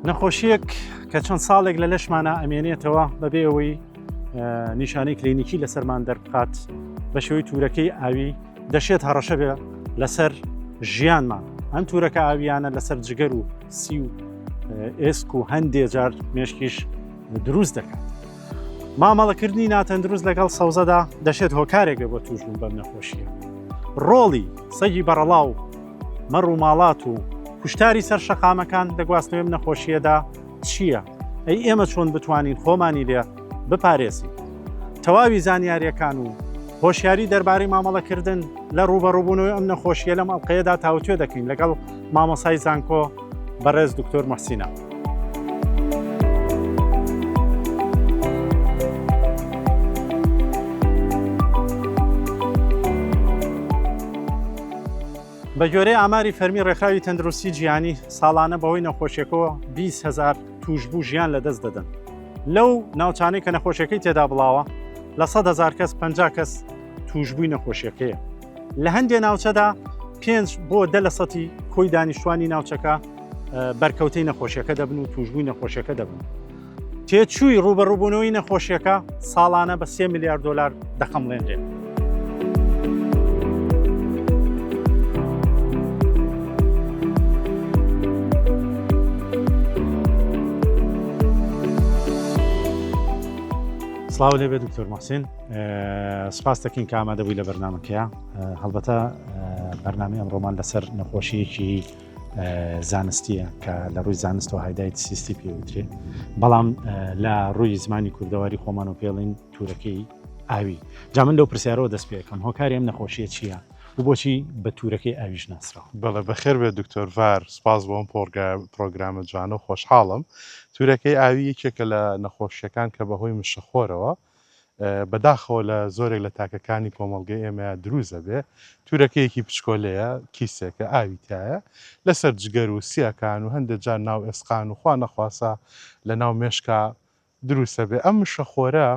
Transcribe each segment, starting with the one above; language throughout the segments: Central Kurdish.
نەخۆشیەک کە چەند ساڵێک لە لەشمانە ئەمێنێتەوە بەبێ ئەوەی نیشانەی کلینیکی لەسەرمان دەربخات بە شێوەی تورەکەی ئاوی دەشێت هەڕەشە بێ لەسەر ژیانمان ئەم تورەکە ئاویانە لەسەر جگەر و سی و ئێسک و هەندێ جار مێشکیش دروست دەکات مامەڵەکردنی ناتەندروست لەگەڵ سەوزەدا دەشێت هۆکارێک بۆ توشبوون بەم نەخۆشیە ڕۆڵی سەگی بەڕەڵاو مەڕ و ماڵات و کوشتاری سەر شەقامەکان دەگواستنەوەم نەخۆشیەدا چییە؟ ئەی ئێمە چۆن بتوانین خۆمانی لێ بپارێزین؟ تەواوی زانیاریەکان و هۆشیاری دەربارەی مامەڵەکردن لە ڕوبەڕوبوونەوەی ئەم نەخۆشیە لەم ئەڵلقەیەدا تاوتوێ دەکەین لەگەڵ مامۆسای زانکۆ بەڕێز دکتۆر مەحسینا. بە گوێرەی ئاماری فەرمی ڕێکخراوی تەندروستی جیانی ساڵانە بەوەی نەخۆشیەکەەوە 20 هزار توشببوو ژیان لە دەست دەدەن لەو ناوچانەی کە نەخۆشیەکەی تێدا بڵاوە لە 100 هزار کەس 50 کەس توشببووی نەخۆشیەکەیە لە هەندێ ناوچەدا پێنج بۆ دە لە سەتی کۆی دانیشتوانی ناوچەکە بەرکەوتەی نەخۆشیەکە دەبن و توشبووی نەخۆشیەکە دەبن. تێچووی ڕوبەڕووبوونەوەی نەخۆشیەکە ساڵانە بە سێ میلیارد دلار دەخەمڵێنرێت. سلااو لێبێ دکتۆر مەحسین سپاس دەکەین کە ئامادە بووی لە بەرنمەکەیە هەڵبەتە بەرنامی ئەمڕۆمان لەسەر نەخۆشیەکی زانستیە کە لە ڕووی زانستەوە هایدایت سیستی پێوترێت بەڵام لە ڕووی زمانی کوردەواری خۆمان و پێڵین تورەکەی ئاوی جا من لەو پرسیارەوە دەست پێکەم هۆکاری ئەم نەخۆشیە چییە و بۆچی بە تورەکەی ئاویش ناسرا بەڵە بەخێر بێ دکتۆر ڤار سپاس بۆم پۆرگا پرۆگرامە جوانە و خۆشحاڵم تورەکەی ئاوی یەکێکە لە نەخۆشیەکان کە بەهۆی مشەخۆرەوە بەداخەوە لە زۆرێک لە تاکەکانی کۆمەڵگەی ئێمەیە دروست دەبێ تورەکەیەکی پچکۆلەیە کیسێکە ئاوی تایە لەسەر جگەر و سیەکان و هەندێک جار ناو ئێسقان و خوا نەخواسە لە ناو مێشکا دروستە بێ ئەم مشەخۆرە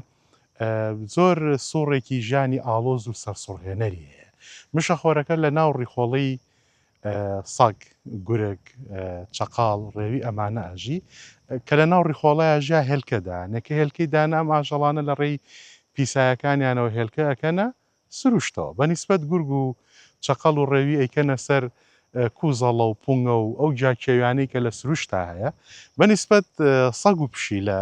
زۆر سوڕێکی ژانی ئاڵۆز و سەرسوڕهێنەری هەیە مشەخۆرەکە لە ناو ڕیخۆڵی سەگ، گورگ، چەقاڵ، ڕێوی ئەمانە ئەژی کە لە ناو ڕیخۆڵەیا ژیا هێلکە دانێ کە هێلکەی دانە ئەم ئاژەڵانە لە ڕێی پیسایەکانیانەوە هێلکە ئەکەنە سروشتەوە بە نیسبەت گورگ و چەقەڵ و ڕێوی ئەیکەنە سەر کوزەڵە و پونگە و ئەو جاکێویانەی کە لە سروشتا هەیە بە نیسبەت سەگ و پشیلە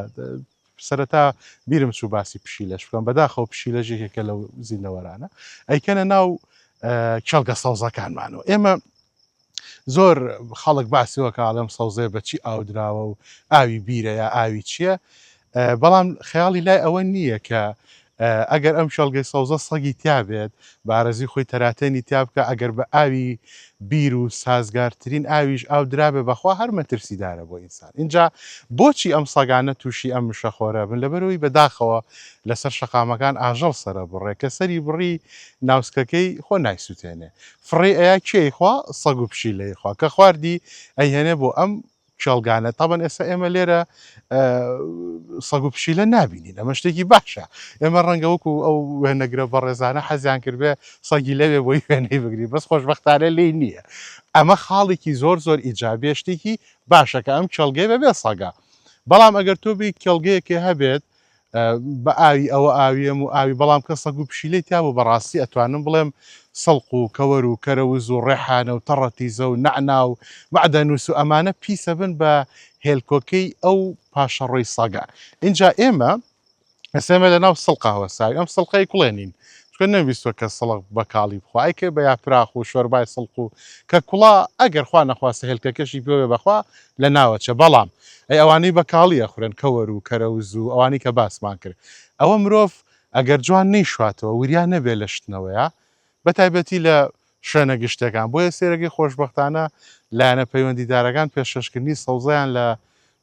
سەرەتا بیرم چوو باسی پشیلەش بکەم بەداخەوە پشیلەش یەکێکە لەو زیندەوەرانە ئەیکەنە ناو کێڵگە سەوزەکانمانەوە ئێمە زۆر خەڵک باسیەوە کاڵم سەوزێ بەچی ئاودراوە و ئاوی بیرەیە ئاوی چییە بەڵام خەیاڵی لای ئەوە نییە کە ئەگەر ئەم کێڵگەی سەوزە سەگی تیا بێت، بە ئارەزوی خۆی تەراتێنی تیا بکا، ئەگەر بە ئاوی بیر و سازگارترین ئاویش ئاو درابێ، بەخوا هەر مەترسیدارە بۆ ئینسان. ئینجا بۆچی ئەم سەگانە توشی ئەم مشەخۆرە بن؟ لەبەرئەوەی بەداخەوە لەسەر شەقامەکان ئاژەڵ سەرەبڕێ، کە سەری بڕی ناوسکەکەی خۆ نایسوتێنێ. فڕێی ئەیا کێی خوا؟ سەگ و پشیلەی خوا. کە خواردی ئەیهێنێ بۆ ئەم کێڵگانە تابان ئێستا ئێمە لێرە سەگ و پشیلە نابینین ئەمە شتێکی باشە ئێمە ڕەنگە وەکو ئەو وێنەگرە بەڕێزانە حەزیان کردێ سەگی لەوێ بۆی وێنەی بگری بەس خۆشببختانە لی نییە ئەمە خاڵێکی زۆر زۆر ئیجابێ شتێکی باشەکە ئەم کێڵگەی بەبێ سەگە بەڵام ئەگەر تۆ بی کێڵگەیەکێ هەبێت بە ئاوی ئەوە ئاویەم و ئاوی بەڵام کە سەگ و پشیلەی تیا بوو بەڕاستی ئەتوانم بڵێم سڵق و کەوەر و کەرەوز و ڕێحانە و تەڕە تیزە و نەعنا و مەعدەنوس و ئەمانە پیس ئەبن بە هێلکۆکەی ئەو پاشەڕۆی سەگە ئینجا ئێمە ئەسێمە لە ناو سڵقە هەوەساوی ئەم سڵقەی کوڵێنین چکە نەویستوە کە سڵق بە کاڵی بخوا ئەیکرد بە یاپراخ و شۆربای سڵق و کە کوڵا ئەگەر خوا نەخواستە هێلکەکەشی پێوێ بەخوا لە ناوەچە بەڵام ئەی ئەوانەی بە کاڵی ئەخورێن کەوەر و کەرەوز و ئەوانەی کە باسمان کرد ئەوە مرۆڤ ئەگەر جوان نەیشواتەوە وریا نەبێت لە شتنەوەیا بە تایبەتی لە شوێنە گشتەکان بۆیە سێرەگەی خۆشبەختانە لایەنە پەیوەندیدارەکان پێشەشکردنی سەوزەیان لە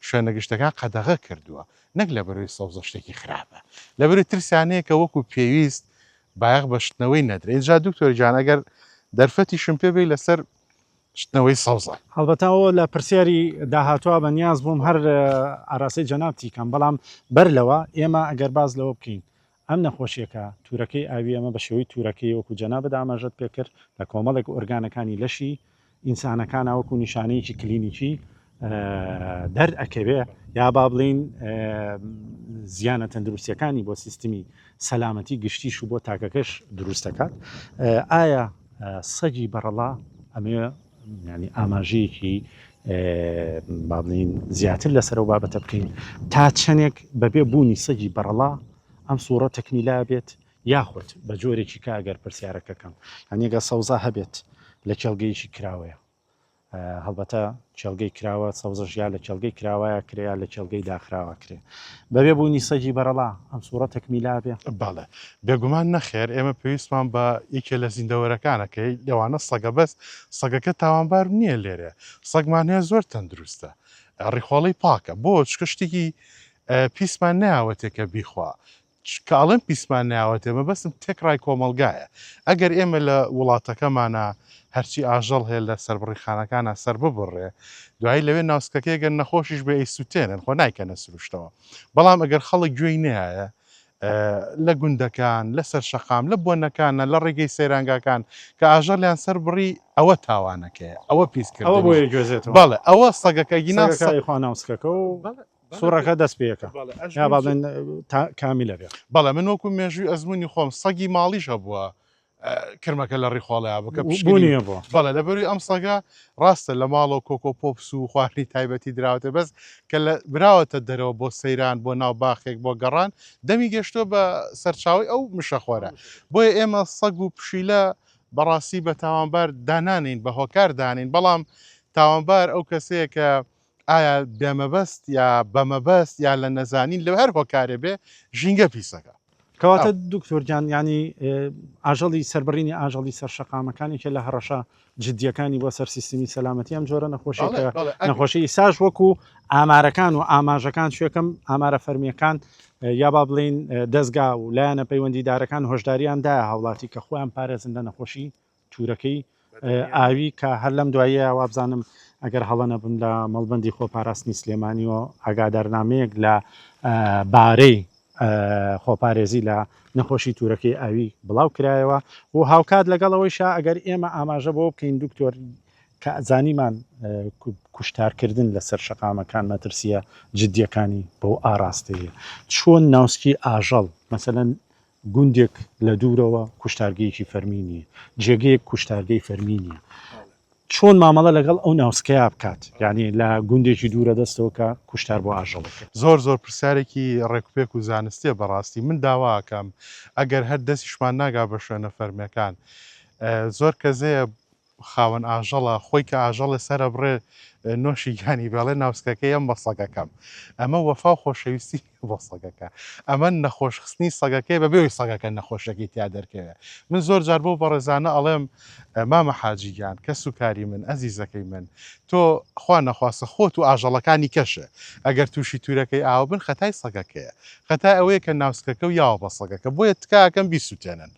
شوێنە گشتەکان قەدەغە کردووە نەک لە بەروی سەوزە شتێکی خراپە لە بەروی ترسیان هەیە کە وەکو پێویست بایەخ بە شتنەوەی نەدرێت جا دکتۆر گیان ئەگەر دەرفەتیشم پێ بێی لەسەر شتنەوەی سەوزە. هەڵبەتە ئەوە لە پرسیاری داهاتوە بە نیاز بووم هەر ئاراسی جەنابتی کەم بەڵام بەر لەوە ئێمە ئەگەر باز لەوە بکەین ئەم نەخۆشیەکە تورەکەی ئاوی ئەمە بە شێوەی تورەکەی وەکو جەنابت ئاماژەت پێکرد لە کۆمەڵێک ئۆرگانەکانی لەشی ئینسانەکان وەکو نیشانەیەکی کلینیکی دەر ئەکەوێ یا با بڵین زیانە تەندروستیەکانی بۆ سیستمی سەلامەتی گشتیش و بۆ تاکەکەش دروست دەکات ئایا سەگی بەڕەڵا ئەمێ ینی ئاماژەیەکی بابلین زیاتر لەسەرەوە بابەتە بکەین تا چەندێک بەبێ بوونی سەگی بەڕەڵا ئەم سوڕە تەکمیلا بێت یاخود بە جۆرێکی کاگەر پرسیارەکەکەم هەنێگە سەوزا هەبێت لە کێڵگەیەکی کراوەیە هەڵبەتە کێڵگەی کراوە سەوزەش یا لە کێڵگەی کراوایە کرێ یا لە کێڵگەی داخراوە کرێ بەبێ بوونی سەگی بەرەڵا ئەم سوورە تەکمیلا بێ بەڵێ بێگومان نەخێر ئێمە پێویستمان بە یەکێ لە زیندەوەرەکانەکەی لەوانە سەگە بەس سەگەکە تاوانبار نییە لێرێ سەگمان هەیە زۆر تەندروستە ڕیخۆڵی پاکە بۆ چکە شتێکی پیسمان ناوەتێکە بیخوا چ کاڵێم پیسمان ناوەتێ مەبەستم تێکڕای کۆمەڵگایە ئەگەر ئێمە لە وڵاتەکەمانا هەرچی ئاژەڵ هەیە لە سەربڕیخانەکانا سەرببڕرێ دوایی لەوێ ناوسکەکەی گەن نەخۆشیش بێ ئەیسوتێنن خۆ نایکەنە سروشتەوە بەڵام ئەگەر خەڵک گوێی نەیایە لە گوندەکان لە سەر شەقام لە بۆنەکانە لە ڕێگەی سەیرانگاکان کە ئاژەڵیان سەر بڕی ئەوە تاوانەکەیە ئەوە پیسکردەوە بۆ گوێزێت بەڵێ ئەوە سەگەکە گینا سەگەکە خوا ناوسکەکە و بەڵێ سوڕەکە دەست پێکە یا با بڵێن تا کامیلە بێ بەڵێ من وەکو مێژووی ئەزمونی خۆم سەگی ماڵیش هەبووە کرمەکە لە ڕیخۆڵەیە بکە پشبوونیە بۆ بەڵێ لە بەروی ئەم سەگە ڕاستە لە ماڵەوە کۆکۆ پۆپس و خوارنی تایبەتی دراوتە بەس کە لە براوەتە دەرەوە بۆ سەیران بۆ ناو باخێک بۆ گەڕان دەمی گەشتۆ بە سەرچاوی ئەو مشەخۆرە بۆیە ئێمە سەگ و پشیلە بەڕاستی بە تاوانبار دانانین بە هۆکار دانین بەڵام تاوانبار ئەو کەسەیە کە ئایا بێمەبەست یا بەمەبەست یا لە نەزانین لە هەر هۆکارێ بێ ژینگە پیس دەکات. کەواتە دکتۆر گیان ینی ئاژەڵی سەربڕینی ئاژەڵی سەر شەقامەکانێکە لە هەڕەشە جددیەکانی بۆ سەر سیستمی سەلامەتی ئەم جۆرە نەخۆشی نەخۆشی ئیساش وەکو ئامارەکان و ئاماژەکان شوێکەم ئامارە فەرمیەکان یا با بڵین دەستگا و لایەنە پەیوەندیدارەکان هۆشداریان دایە هاوڵاتی کە خۆیان پارێزن لە نەخۆشی تورەکەی ئاوی کە هەر لەم دواییە وابزانم ئەگەر هەڵە نەبم لە مەڵبەندی خۆپاراستنی سلێمانی و ئاگادارنامەیەک لە بارەی خۆپارێزی لە نەخۆشی تورەکەی ئاوی بڵاو کرایەوە و هاوکات لەگەڵ ئەوەی شا ئەگەر ئێمە ئاماژە بۆ بکەین دکتۆر کە زانیمان کوشتارکردن لەسەر شەقامەکان مەترسیە جددیەکانی بەو ئاراستەیە چۆن ناوسکی ئاژەڵ مەسەەن گوندێک لە دوورەوە کوشتارگەیەکی فەرمی نییە، جێگەیەک کوشتارگەی فەرمی نییە، چۆن مامەڵە لەگەڵ ئەو ناوسکەیا بکات، یانی لە گوندێکی دوورە دەستەوە کە کوشتار بۆ ئاژەڵێک. زۆر زۆر پرسیارێکی ڕێکوپێک و زانستیە بەڕاستی من داوا ئەکەم ئەگەر هەر دەسیشمان ناگا بە شوێنە فەرمیەکان زۆر کەزەیە خاوەن ئاژەڵە خۆی کە ئاژەڵێ سەرەبڕێ نۆشی گیانی بێڵێ ناوسکەکەی ئەم بە سەگەکەم ئەمە وەفا و خۆشەویستی بۆ سەگەکە ئەمە نەخۆش خستنی سەگەکەی بە بێوی سەگەکە نەخۆشەکەی تیا دەرکەوێ من زۆر جار بۆ بەڕێزانە ئەڵێم مامە حاجی گیان کەس و کاری من ئەزیزەکەی من تۆ خوا نەخواستە خۆت و ئاژەڵەکانی کەشە ئەگەر تووشی تورەکەی ئاو بن خەتای سەگەکەیە خەتای ئەوەیە کە ناوسکەکە و یاوە بە سەگەکە بۆیە تکاکەم بیسووتێنن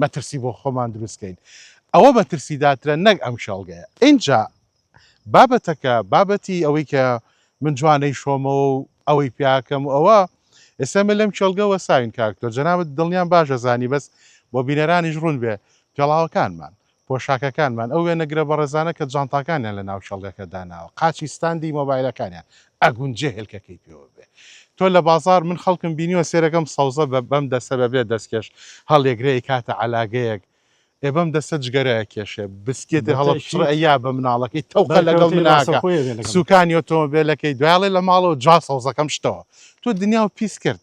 مەترسی بۆ خۆمان دروست کەین ئەوە مەترسیداترە نەک ئەم کێڵگەیە ئینجا بابەتەکە بابەتی ئەوەی کە من جوانەی شۆمەوە و ئەوەی پیاکەم و ئەوە ئێستا من لەم کێڵگە وەساوین کاکتۆر جەنابەت دڵنیام باش ئەزانی بەس بۆ بینەرانیش ڕوون بێ پێڵاوەکانمان پۆشاکەکانمان، ئەو وێنەگرە بەڕێزانە کە جانتاکانیان لە ناو کێڵگەکە داناوە، قاچی ستاندی مۆبایلەکانیان، ئەگونجێ هێلکەکەی پێوە بێ. تۆ لە بازاڕ، من خەڵکم بینیوە سێرەکەم سەوزە بە بەم دەستە بە بێ دەستکێش هەڵیەگرێ ئەیکاتە عەلاگەیەک، ئێ بەم دەستە جگەرە ئەکێشێ، بسکێتێ هەڵەپچڕێ ئەیا بە مناڵەکەی، تەوقە لەگەڵ من ئاکا، سوکانی ئۆتۆمۆبێلەکەی، دوای ئەڵێ لە ماڵەوە جا سەوزەکەم شتەوە. تۆ دنیاو پیس کرد.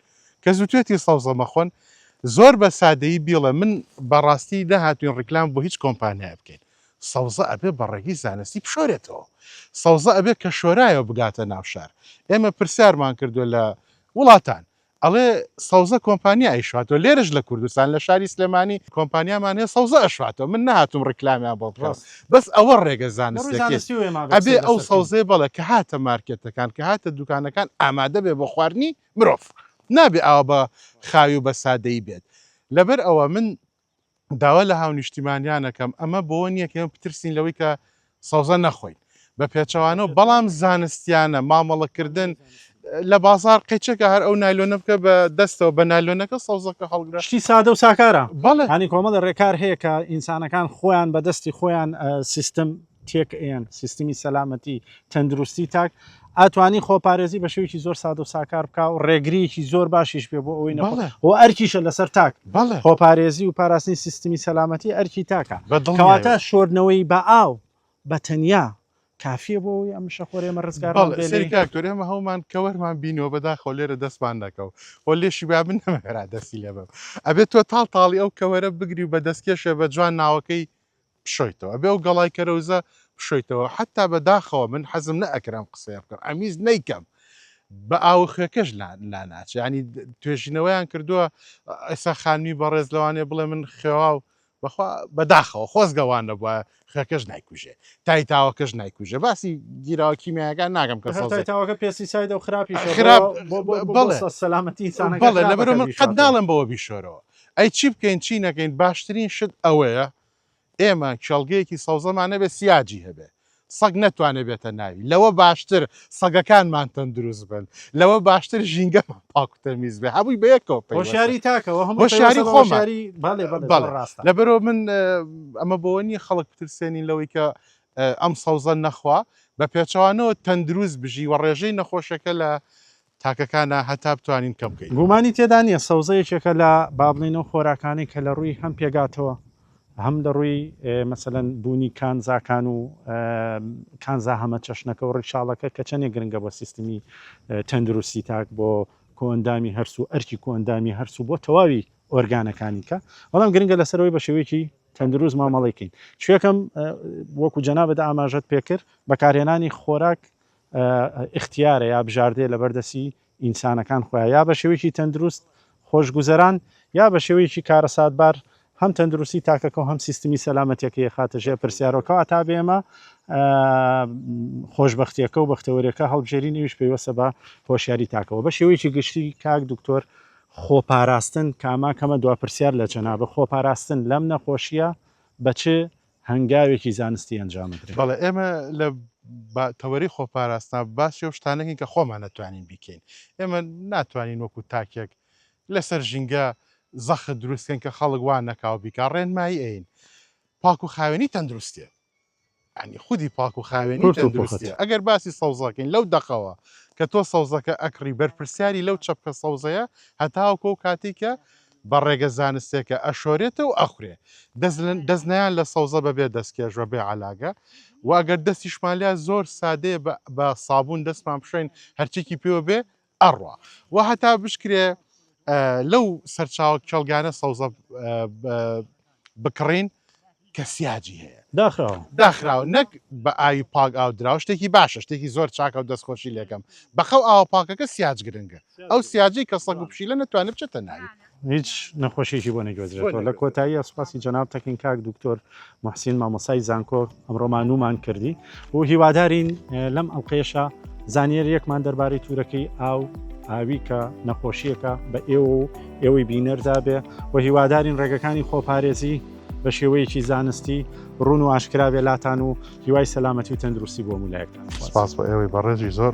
کە زوتوێتی سەوزە مەخۆن زۆر بە سادەیی بیڵێ من بە ڕاستی نەهاتوین ڕیکلام بۆ هیچ کۆمپانیایە بکەین سەوزە ئەبێ بە ڕێگەی زانستی بشۆرێتەوە سەوزە ئەبێ کە شۆرایەوە بگاتە ناو شار ئێمە پرسیارمان کردو لە وڵاتان ئەڵێ سەوزە کۆمپانیا ئەیشاتۆ لێرش لە کوردستان لە شاری سلێمانی کۆمپانیامان هەیە سەوزە ئەشاتۆ من نهاتم ڕیکلامیان بۆ بڕاست بەس ئەوە ڕێگە زانستەبێ ئەو سەوزێ بەڵێ کە هاتە مارکێتەکان کە هاتە دوکانەکان ئامادە بێ بۆ خواردنی مرۆڤ نابێ ئاوا بە خاوی و بە سادەیی بێت. لەبەر ئەوە من داوا لە هاونیشتیمانیان ئەکەم ئەمە بۆوە نییە کە ئێمە بترسین لەوەی کە سەوزە نەخۆین بە پێچەوانەوە بەڵام زانستیانە مامەڵەکردن لە بازار قەیچەکە هەر ئەو نایلۆنە بکە بە دەستەوە بە نایلۆنەکە سەوزەکە هەڵگرە شتی سادە و ساکارە بەڵێ هانی کۆمەڵە ڕێکار هەیە کە ئینسانەکان خۆیان بە دەستی خۆیان سیستم تێک ئەیەن سیستمی سەلامەتی تەندروستی تاک ئەتوانی خۆپارێزی بە شێوکی زۆر ساد و ساکار بکە و ڕێگریەکی زۆر باشیش پێ بۆ ئەوەی نەڵێ و ئەرکیشە لەسەر تاک بەڵێ خۆپارێزی و پاراستنی سیستمی سەلامەتی ئەرکی تاکە بەدڵکەواتە شۆردنەوەی بە ئاو بە تەنیا کافیە بۆ ئەوی ئەم شەخۆرێمە ڕزگار سەرکتۆرێمە هەومان کەوەرمان بینەوە بەداخۆ لێرە دەستمان نەکەو و لێشی با من نەمەێرا دەستی لێ بم ئەبێت تۆ تاڵ تاڵی ئەو کەوەرە بگری و بە دەستکێشێ بە جوان ناوەکەی بشۆیتەوە ئەبێ ئەو گەڵای کەرەوزە بشۆیتەوە حتا بە داخەوە من حەزم نە ئەکرد ئەم قسەیە بکەم ئەمویست نەیکەم بە ئاو خوێکەش لا ناچێ ینی توێژینەوەیان کردووە ئێسا خانمی بەڕێز لەوانێ بڵێ من خێواو بەخوا بەداخەوە خۆزگەوان نەبووە خوێکەش نایکوژێ تای تاوەکەش نایکوژێ باسی گیراوە کیمیاگان ناگەم کە تاوەکە پێسی ساید و خراپی خراپ سەلامەتی بەڵێ لەبەر من قەت ناڵم بەوە بیشۆرەوە ئەی چی بکەین چی نەکەین باشترین شت ئەوەیە ئێمە کێڵگەیەکی سەوزەمان نەبێ سیاجی هەبێ سەگ نەتوانێ بێتە ناوی لەوە باشتر سەگەکانمان تەندروست بن لەوە باشتر ژینگەمان پاکوتەمیز بێ هەبووی بەیەکەوە هۆشیاری تاکەوە هۆشیاری خۆماری لەبەرەوە من ئەمە بۆ نیە خەڵک بترسێنین لەوەی کە ئەم سەوزە نەخوا بە پێچوانەوە تەندروست بژی و ڕێژەی نەخۆشەکە لە تاکەکانە هەتا بتوانین کەم کەین. گومانی تێدا نیە سەوزە یەکێکە لە با بڵێین ئەو خۆراکانەی کە لە ڕووی هەم پێگاتەوە هەم لە ڕووی مەسەلەن بوونی کانزاکان و کانزا هەمە چەشنەکە و ڕیشاڵەکە کە چەندێک گرنگە بۆ سیستمی تەندروستی تاک بۆ کۆئەندامی هەرس و ئەرکی کۆئەندامی هەرس و بۆ تەواوی ئۆرگانەکانی کە بەڵام گرنگە لەسەرەوەی بە شێوەیەکی تەندروست مامەڵێکین شوێکەم وەکو جەنابەت ئاماژەت پێکرد بەکارهێنانی خۆراک ئیختیارە یا بژاردەیە لەبەر دەستی ئینسانەکان خۆیان یا بە شێوەیەکی تەندروست خۆشگوزەران یا بە شێوەیەکی کارەساتبار هەم تەندروستی تاکەکە و هەم سیستمی سەلامەتەکەی خاتە ژێ پرسیارەوە کەواتا بێمە خۆشببختیەکە و بەختەوەریەکە هەڵبژێری نویش پێیوەسە بە هۆشیاری تاکەوە بە شێوەیەکی گشتی کاک دکتۆر خۆپاراستن کاماکەمە دو پرسیار لە جەنابە خۆپاراستن لەم نەخۆشیە بە چ هەنگاوێکی زانستی ئەنجام بدرێت. بەڵێ ئێمە لە تەوەری خۆپاراستنا باسی و شتانەکەین کە خۆمان نەتوانین بیکەین ئێمە ناتوانین وەکو تاکێک لەسەر ژینگە زەخت دروستکەن کە خەڵک وان نەکاو بیکا ڕێنمایی ئەین پاک و خاوێنی تەندروستێ ینی خودی پاک و خاوێنی تەندروستێ ئەگەر باسی سەوزەکەین لەو دەقەوە کە تۆ سەوزەکە ئەکڕی بەرپرسیاری لەو چەپکە سەوزەیە هەتاوکۆ و کاتێکە بە ڕێگە زانستێکە ئەشۆرێتە و ئەخورێ. دەست نیان لە سەوزە بە بێ دەستکێش و بێ عەلاگە و ئەگەر دەستیشمان لیا زۆر سادەیە بە سابوون دەستمان بشۆین هەرچێکی پێوە بێ ئەڕوا و هەتا بشکرێ لەو سەرچاوە کێڵگانە سەوزە بکڕین کە سیاجی هەیە داخراوە داخراوە نەک بە ئاوی پاک ئاو دراوە شتێکی باشە شتێکی زۆر چاکە و دەستخۆشی لەکەم بەخەو ئاوە پاکەکە سیاج گرنگە ئەو سیاجی کە سەگ و پشیلە نەتوانێت بچێتە ناوی هیچ نەخۆشیشی بۆ نەگوێزرێتەوە لە کۆتایی سوپاسی جەنابتەکەین کاک دکتۆر محسین مامۆسای زانکۆ ئەمڕۆمان نومان کردی و هیوادارین لەم ئەڵلقەیەشە زانیاریەکمان دەربارەی تورەکەی ئاو ئاوی کە نەخۆشیەکە بە ئێوە و ئێوەی بینەردا بێ و هیوادارین ڕێگەکانی خۆپارێزی بە شێوەیەکی زانستی ڕون و ئاشکراێ لاتان و هیوای سەلامەتی و تەندروستی بۆ مولایەکتان سپاس بە ئێوەی بەڕێزی زۆر